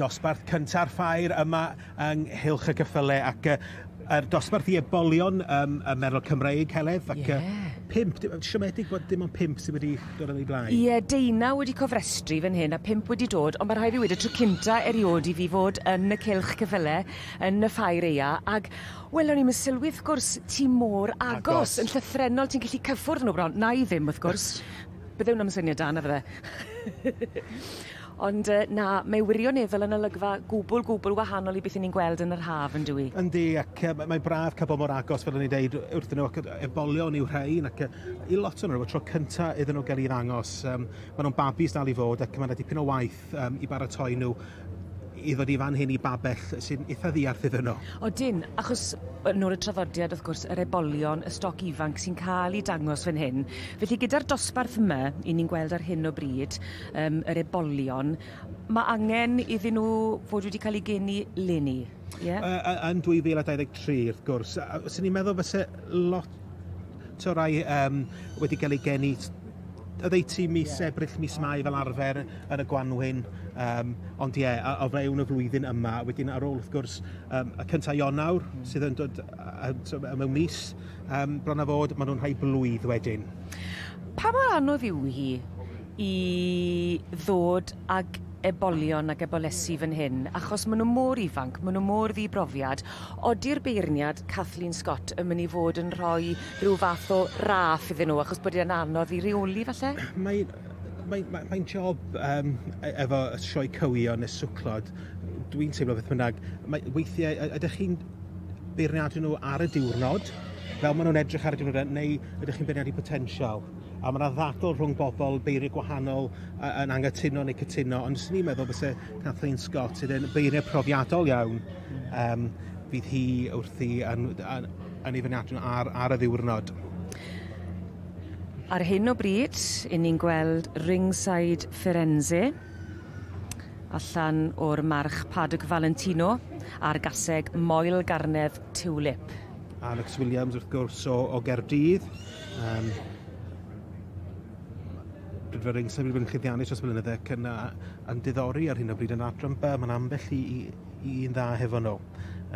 dosbarth cynta'r ffair yma yng nghylch y cyffyle ac uh, er dosbarth i ebolion um, y merol Cymreig, Heledd, ac yeah. uh, pimp, siomedig bod dim ond pimp sydd wedi dod yn ei blaen. Ie, yeah, deunaw wedi cofrestru fan hyn a pimp wedi dod, ond mae rhaid i wedi tro cynta erioed i fi fod yn y cylch cyffyle, yn y ffair eia, ac Wel o'n i'm yn sylwi wrth gwrs ti mor agos. Agos. Yn llythrennol ti'n gallu cyffwrdd â nhw bron. Wna i ddim wrth gwrs. Bydde hwnna ddim yn syniad da na fydde? Ond yy na, mae wirioneddol yn olygfa gwbl gwbl wahanol i beth 'yn ni'n gweld yn yr haf yn dyw 'i? Yndi ac yy mae'n braf cael bod mor agos fel o'n i'n deud wrthyn nhw ac yy ebolion yw rhain ac yy i lot o nhw y tro cynta iddyn nhw gael 'u ddangos yym ma' nhw'n babis dal i fod ac ma' 'na dipyn o waith Yym, i baratoi nhw i ddod i fan hyn i babell sy'n itha ddiarth iddyn nhw. Odyn, achos, yn ôl y traddodiad wrth gwrs, yr ebolion, y stoc ifanc sy'n cael ei dangos fan hyn. Felly gyda'r dosbarth yma, i ni'n gweld ar hyn o bryd, yym, yr ebolion, ma' angen iddyn nhw fod wedi cael eu geni leni? Ie. Yy yy yn 2023 wrth gwrs a- a- fyswn i'n meddwl fyse lot o rai yym wedi ga'l eu geni s- oddeutu mis Ebrill mis Mai fel arfer yn y gwanwyn yym ond ie a- o fewn y flwyddyn yma wedyn ar ôl wrth gwrs yym y cynta' Ionawr sydd yn dod yy yy t'o' yy mewn mis yym bron a fod ma' nw'n rhai blwydd wedyn. Pa mor anodd yw hi i ddod ag ebolion ac ebolesi fan hyn, achos maen nhw mor ifanc, maen nhw mor ddibrofiad. Odi'r beirniad Kathleen Scott yn mynd i fod yn rhoi rhyw fath o raff iddyn nhw, achos bod e'n anodd i reoli falle? Mae mae, mae, mae'n job um, efo y sioe cywio neu swclod, dwi'n teimlo beth bynnag, mae, weithiau ydych chi'n beirniadu nhw ar y diwrnod, fel maen nhw'n edrych ar y diwrnod, neu ydych chi'n beirniadu potensial? a ma' 'na ddadl rhwng bobl beiriau gwahanol yy yn angytuno neu cytuno, ond swn i'n meddwl fyse Kathleen Scott sydd yn beiriau profiadol iawn yym fydd hi wrthi yn yn yn ei fyniadnu ar ar y ddiwrnod. Ar hyn o bryd, 'yn ni'n gweld ringside Firenze allan o'r march Padraig Valentino ar gaseg Moel Garnedd Tiwlip. Alex Williams wrth gwrs o o Gaerdydd. Um, Rydw i'r einsaf wedi bod yn chyddiannu dros blynydde ac yn yn diddori ar hyn o bryd yn adran B, mae'n ambell i, i, i un dda hefo nhw,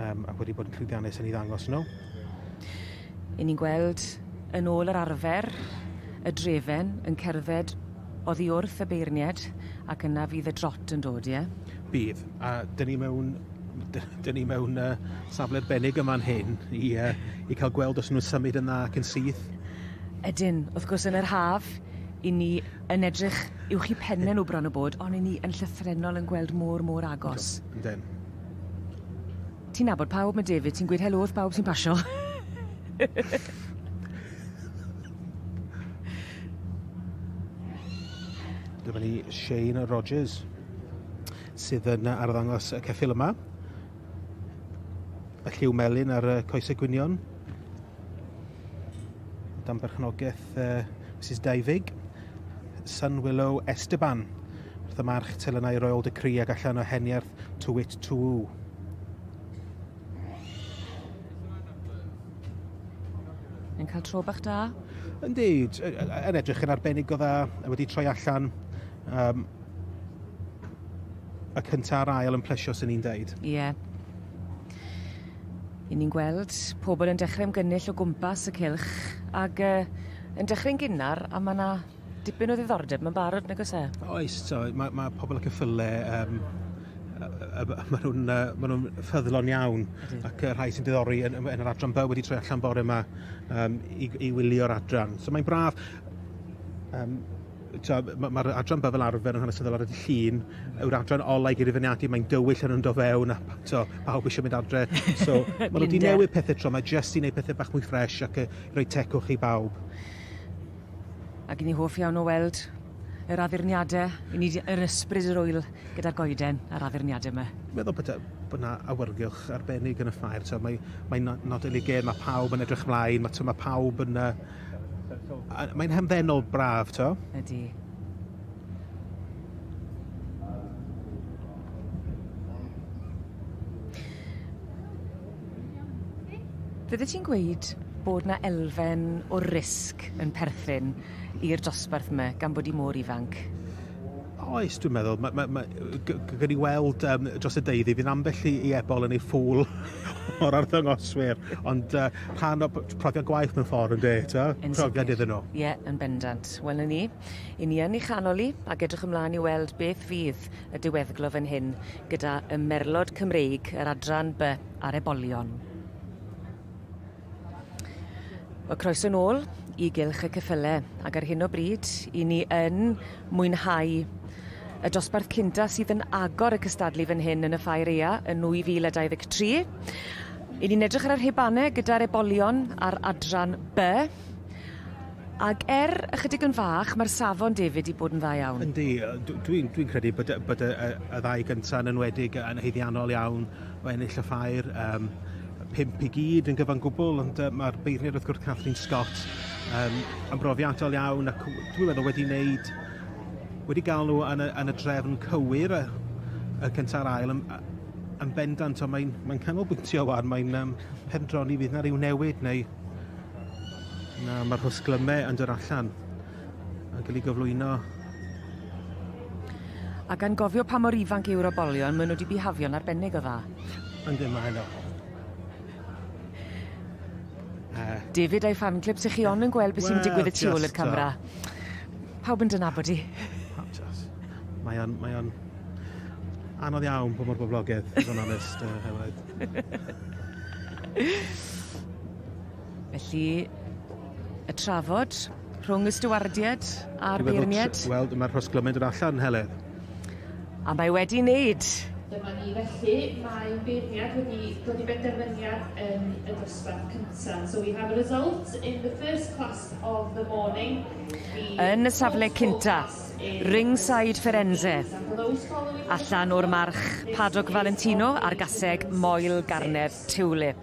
um, ac wedi bod yn llwyddiannus yn ei ddangos nhw. I ni'n gweld yn ôl yr arfer y drefen yn cerdded oddi wrth y beirniad ac yna fydd y drot yn dod, ie? Bydd. A dyn ni mewn dyn ni mewn uh, safle arbennig yma yn hyn i, uh, i cael gweld os nhw'n symud yn dda ac yn syth. Ydyn, wrth gwrs yn yr haf, i ni yn edrych i'w chi penne nhw bron o bod, ond i ni yn llythrenol yn gweld môr môr agos. Ydyn. Ti'n nabod pawb, mae David, ti'n gweud helo wrth pawb sy'n pasio. Dyma ni Shane Rogers. sydd yn arddangos y ceffyl yma. Y lliw melyn ar y coesau gwynion. Dan berchnogaeth uh, Mrs Daifig. Sun Willow Esteban. Wrth y march telynau royal decree ac allan o heniarth Tywit Tŵ. Yn cael tro bach da? Yndi, yn edrych yn arbennig o dda, wedi troi allan Um, y cyntaf a'r ail yn plesio sy'n ni'n deud. Ie. Yeah. I ni'n gweld pobl yn dechrau ymgynnull o gwmpas y cilch ac uh, yn dechrau'n gynnar a mae yna dipyn o ddiddordeb mae'n barod nag oes e? Oes, so, mae, mae pobl ac yn ffyle um, maen nhw'n uh, ma nhw ffyddlon iawn ac y rhai sy'n diddori yn, yn yr adran byw wedi troi allan bore yma um, i, i wylio'r adran. So mae'n braf. Um, Tibod, ma- mae'r adran 'ba fel arfer yn hanesyddol ar y dydd Llun, yw'r adran ola' i gyd i fyniadu, mae'n dywyll yn yndo fewn a p- tibod, pawb eisiau mynd adre. So, maen nhw 'di newid pethau tro 'ma jyst i wneud pethau bach mwy ffresh ac yy i roi tecwch i bawb. Ac 'yn ni hoff iawn o weld yr addurniadau, 'yn ni 'di- yr ysbryd yr ŵyl gyda'r goeden a'r addurniadau 'ma. Fi'n meddwl bod yy bod 'na awyrgylch arbennig yn y ffair, tibod, mae mae'n no- nodyn ei gêm, mae pawb yn edrych mlaen, ma' tibod, ma' pawb yn yy Mae'n hamddenol braf, to? Ydy. Fyddet ti'n gweud bod 'na elfen o risg yn perthyn i'r dosbarth 'ma gan bod 'i mor ifanc? Oes, dwi'n meddwl. Mae, mae, mae, gan i weld um, dros y deuddi, fydd ambell i, i ebol yn ei ffwl o'r arddangoswyr, ond uh, rhan o profiad gwaith mewn ffordd yn de, ta? Profiad iddyn nhw. Ie, yeah, yn bendant. Wel, ni, i ni yn ei chanol i, ac edrych ymlaen i weld beth fydd y diweddglo fan hyn gyda y merlod Cymreig, yr adran by ar ebolion. Wel, croeso nôl i Gylch y Ceffyle, ac ar hyn o bryd, i ni yn mwynhau y dosbarth cynta sydd yn agor y cystadlu fan hyn yn y Ffair Ea yn 2023. I ni'n edrych ar y rhibanau gyda'r ebolion ar adran B. Ac er ychydig yn fach, mae'r safon, David, i bod yn dda iawn. Yndi, dwi'n dwi, dwi credu bod, bod y, y, y ddau gyntaf yn enwedig yn haeddiannol iawn o ennill y ffair. Um, pump i gyd yn gyfan gwbl, ond uh, mae'r beirniad wrth gwrs Kathleen Scott um, yn brofiadol iawn ac dwi'n meddwl wedi wneud wedi gael nhw yn y, yn y drefn cywir y, y cynta'r ail yn, yn bendant, ond mae'n mae canolbwyntio wan, mae'n um, pendroni fydd na rhyw newid neu na mae'r hwsglymau yn dod allan. Mae'n cael ei gyflwyno. A gan gofio pa mor ifanc yw'r obolion, maen nhw wedi bihafio'n arbennig o dda. Yn ddim maen nhw. David a'i fan clip, sy'ch chi on yn gweld beth sy'n digwydd y tu ôl i'r camera. Pawb yn dynabod i. Mae o'n, mae o'n anodd iawn bod mor boblogaidd, i fod yn onest, uh, Hewraid. Felly, y trafod rhwng y stiwardiaid a'r beirniaid. Wel, mae'r hosglymaid yn allan, Heledd. A mae wedi wneud. Dyma ni felly, mae beirniad wedi dod i benderfyniad yn y dosbarth cyntaf. So we have a result in the first class of the morning. Yn y safle cyntaf, ringside Firenze. Allan o'r march, Padog Valentino a'r gaseg Moel Garnedd. Tulip.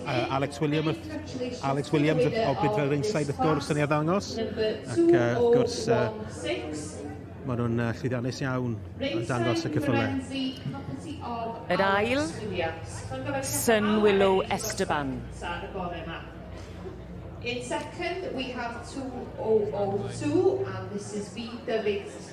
Uh, Alex Williams, Alex Williams o Bidfell Ringside wrth gwrs yn ei ddangos ac uh, wrth gwrs uh, maen nhw'n uh, llwyddiannus iawn yn dangos y cyffylau. Yr ail, Sun Willow Esteban. In second, we have 202, and this is B, the big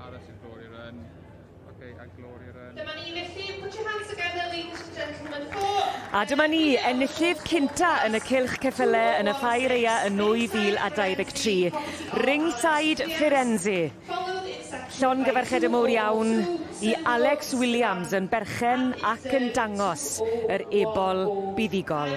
Aros i'r Glory Run. Okay, a Glory Run. Dyma ni felly, put your hands together, ladies and gentlemen, for... A dyma ni, enillydd cynta yn y cilch ceffyle yn y Ffair Eia yn 2023. Ringside Firenze. Llon gyfarched y mowr iawn i Alex Williams yn berchen ac yn dangos yr ebol buddugol.